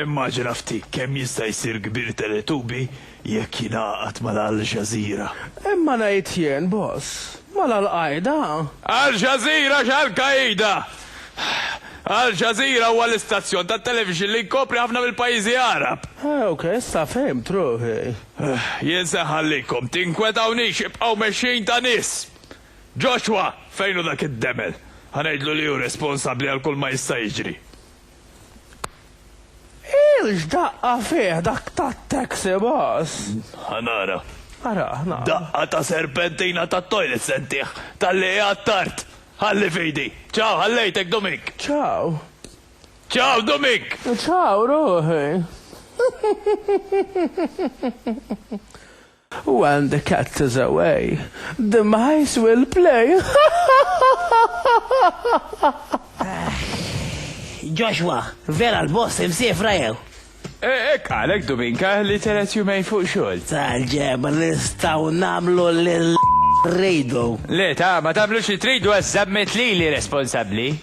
Immaġina ftit kemm jista' jsir kbir Teletubi jekk jingħaqad mal-Al Jazeera. Imma ngħid jien, boss, mal-Al Qaeda? Al Jazeera x'Al Qaeda? Al Jazeera huwa l-istazzjon tat-televixin li jkopri ħafna mill-pajjiżi Għarab. Ah, ok, issa fhimt ruħi. Jien se nħallikom, tinkwetawniex, ibqgħu mexjin ta' nies! Joshua, fejn hu dak id-demel? Ħa ngħidlu li hu responsabbli għal kulma jista' jiġri. Ilx daqqa fih dak tat-taxi bus! Ħa nara. Ara, nara. Daqqa ta' serpentina tat-toilet se ntih, talli qiegħed tard! Ħalli f'idi. Ciao, ħallejtek, Dumink! Ciao. Ciao, Dumink! Ciao, ruħi. When the cat is away, the mice will play! Joshua, vera l-boss imsiefra jew? Hekk qalek Dubinka li telet jumejn fuq xogħol. Tal-ġebr nistgħu nagħmlu lil rridu. Le ta, ma tagħmlux li tridu għax żammet lili responsabbli.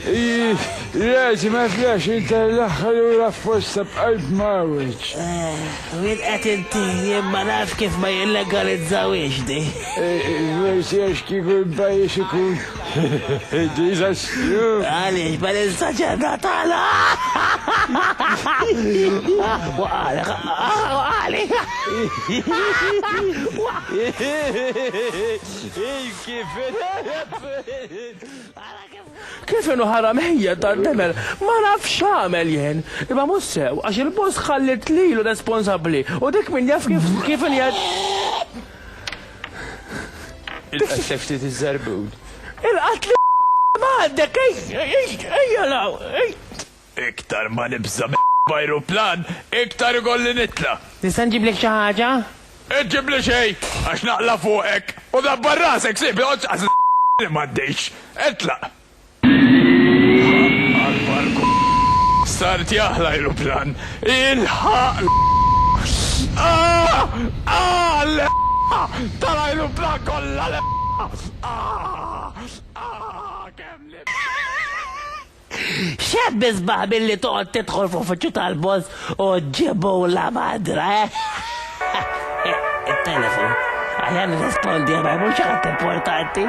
Iih, l-għeġ ma tlax inta l-aħħar ura f'posta b'qalb mgħawweġ. Eeh, min qed inti, jien ma nafx kif ma jillegalizzawhiex di. Forsi għax kieku l-pajjiż ikun diżastru. Għaliex ma ninsax għedha tagħna. Waqali, waqali. Kif Kif inhu ħara mħejjed dan temel, ma nafx x'għamel jien, imma mhux sew għax il-boss ħalliet lilu responsabbli u dik min jaf kif kif Il-qtef ftit iż-żerbun. Il-qatl m'għandek ejja ejja ejja l-hawn. Iktar ma nibża' minn b'ajruplan, iktar ikolli nitla'. Nista' nġiblek xi ħaġa? Iġġibli xejn, għax naqla' fuqek. U dabbar rasek, sieħbi, oqgħodx tqażżżaq li m'għaddejtx. Itlaq. Ħa akbar k. Start jah l-ajruplan. Ilħaq l. Ahh! Ahh! L. Tal-ajruplan kollha l. Ahh! Ahh! Kemm nibża'! X'hemm isbaħ milli toqgħod tidħol f'uffiċċju tal-boss u ġġibu la madra, eh? It-telefon. Aħjar nirrispondiha ma jmur xi ħadd importanti.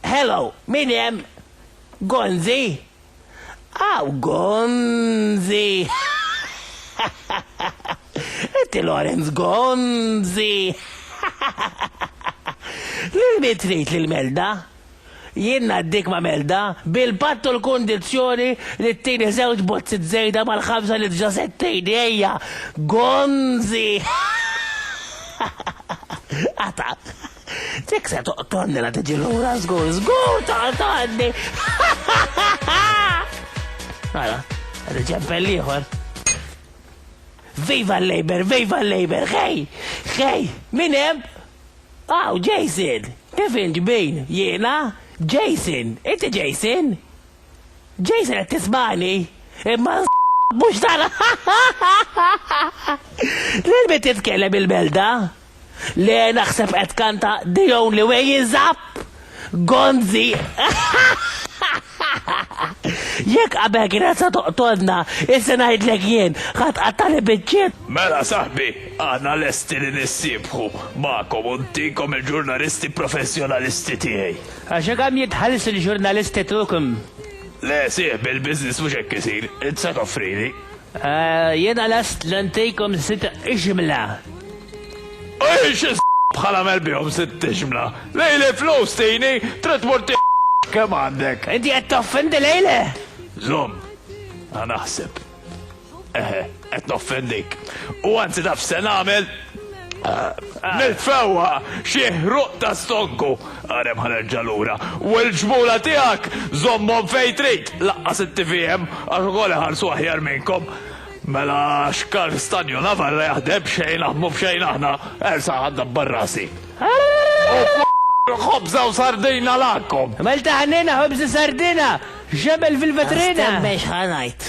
Hello, min hemm? Gonzi? Aw, Gonzi! Inti Lorenz Gonzi! Lil min trid lil Melda? Jien ngħaddik ma' Melda bil-patt u l-kundizzjoni li ttini żewġ bozzit żejda mal-ħamsa li dġa settejni ejja, gonzi! Ata! Dik se toqtolni la tiġi lura żgur, żgur toqtolni! Ara, għadu ċempel ieħor. Viva l-Labor, viva l-Labor, xej! Xej! Min hemm? Aw, Jason! Kif int, min? Jiena? Jason! Inti Jason? Jason qed tismagħni? Imma mhux dan Lil min titkellem il-melda? Le naħseb qed tkanta The Only Way Is Up! Gonzi! Jekk qabel kienet se toqtolna, issa ngħidlek jien, ħa tqattagħli biċċiet! Mela saħbi, aħna lesti li nissiebħu magħkom u ntikom il-ġurnalisti professjonalisti tiegħi. Għax hekk hemm jitħallsu l-ġurnalisti Turk. Le sieħbi l-business mhux hekk isir, int se toffrili. Jiena lest li ntikom sitt ixmla. U jien xi bħal agħmel bihom sitt ixmla? Lejli l-flus tini, trid tmur tieħu kemm għandek. Inti qed toffendi lejli? Żomm, ħa naħseb. Eħe, qed noffendik. U anzi taf x'se nagħmel? Nitfewha xi ħruq ta' stonku, għarem ħa nerġa' lura, u l-ġmula tiegħek żommhom fejn trid, laqqas it-TVM għax ukoll iħarsu aħjar minnkom. Mela x'karr Stanju Navarra jaħdem b'xejn aħmu b'xejn aħna, ersa' ħa ndabbar rasi. U kulu ħobża u sardina lagħkom! Malta ħniena ħobża sardina, x'jagħmel fil-vetrina! Astenna x'ħa ngħid.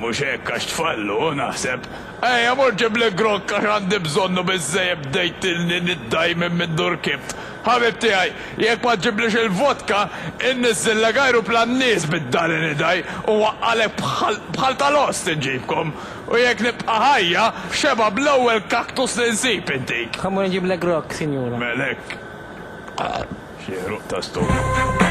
Mhux hekk għax tfal, hu, naħseb? Ejja, mur ġiblek grokk għax għandi bżonnu biżżejjed bdejtilni niddajmin minn dur kibt. Ħabib tiegħi, jekk ma ġġiblix il-vodka, inniżżillek ajruplan nies bid-dali nidgħi u nwaqqagħlek bħal, bħal tal-ost inġibkom. U jekk nibqa' ħajja, f'xebgħa bl-ewwel cactus li nsib intik. Ħa mmur inġiblek grokk, sinjura. Mel hekk. Xi ħruq ta' stomaku.